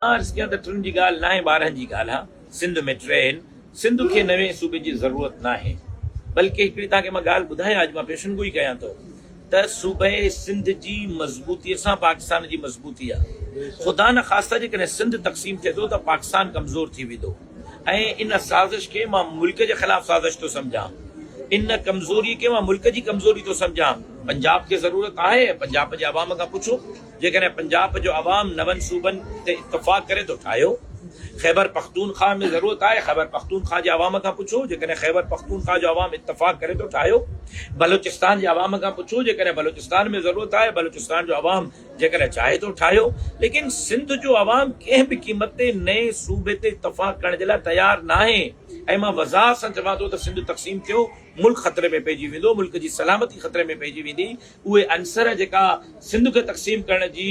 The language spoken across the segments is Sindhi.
عرض ڪيان ته ٽن جي ڳالهه ناهي ٻارهن جي ڳالهه آ سنڌ ۾ ٽي آهن سنڌ کي نوين صوبي جي ضرورت ناهي بلڪه هڪڙي توهان کي مان ڳالهه ٻڌايان اڄ مان پيشن گوئي ڪيان ٿو ته صوبي سنڌ جي مضبوطي سان پاڪستان جي مضبوطي آ خدا نه خاصتا جيڪڏهن سنڌ تقسيم ٿئي ٿو ته پاڪستان ڪمزور ٿي ويندو ۽ ان سازش کي مان ملڪ جي خلاف سازش ٿو سمجهان ان ڪمزوري کي مان ملڪ جي ڪمزوري ٿو سمجهان پنجاب کي ضرورت آهي پنجاب جي عوام کان پڇو جيڪڏهن پنجاب جو عوام نون صوبن تي اتفاق ڪري ٿو ٺاهيو خيبر پختونخواه ۾ ضرورت آهي خيبر پختونخواه جي عوام کان پڇو جيڪڏهن خيبر پختونخواه جو عوام اتفاق ڪري ٿو ٺاهيو بلوچستان جي عوام کان پڇو جيڪڏهن بلوچستان ۾ ضرورت آهي بلوچستان جو عوام جيڪڏهن چاهي ٿو ٺاهيو ليڪن سنڌ جو عوام ڪنهن به قيمت تي نئين صوبي تي اتفاق ڪرڻ جي لاء تيار ناهي ۽ مان وضاحت سان چوان ٿو ته سنڌ تقسيم ٿيو ملڪ خطري ۾ پئجي ويندو ملڪ جي سلامتي خطري ۾ پئجي ويندي اهي عنصر جيڪا سنڌ کي تقسيم ڪرڻ جي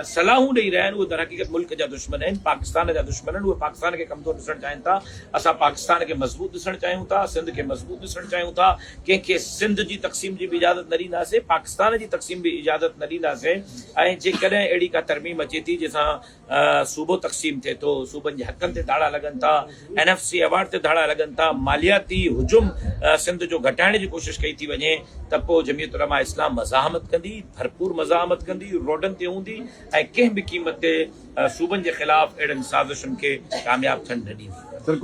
صلاحون ڏئي رهيا آهن اهي درحقيقت ملڪ جا دشمن آهن پاڪستان جا دشمن آهن اهي پاڪستان کي ڪمزور ڏسڻ چاهين ٿا اسان پاڪستان کي مضبوط ڏسڻ چاهيون ٿا سنڌ کي مضبوط ڏسڻ چاهيون ٿا ڪنهن کي سنڌ جي تقسيم جي به اجازت نه ڏينداسين پاڪستان جي تقسيم به اجازت نه ڏينداسين ۽ جيڪڏهن اهڙي ڪا ترميم اچي ٿي جنهن سان صوبو تقسيم ٿئي ٿو، صوبن جي حقن تي ڌاڙا لڳن ٿا، اين ايف سي ايوارڊ تي ڌاڙا لڳن ٿا، مالياتي حجم سنڌ جو گهٽائڻ جي ڪوشش ڪئي ٿي وڃي ته پوء جمعيت علماء اسلام مزاحمت ڪندي، ڀرپور مزاحمت ڪندي، روڊن تي هوندي ۽ ڪنهن به قيمت تي صوبن جي خلاف اهڙن سازشن کي ڪامياب ٿيڻ نه ڏيندي.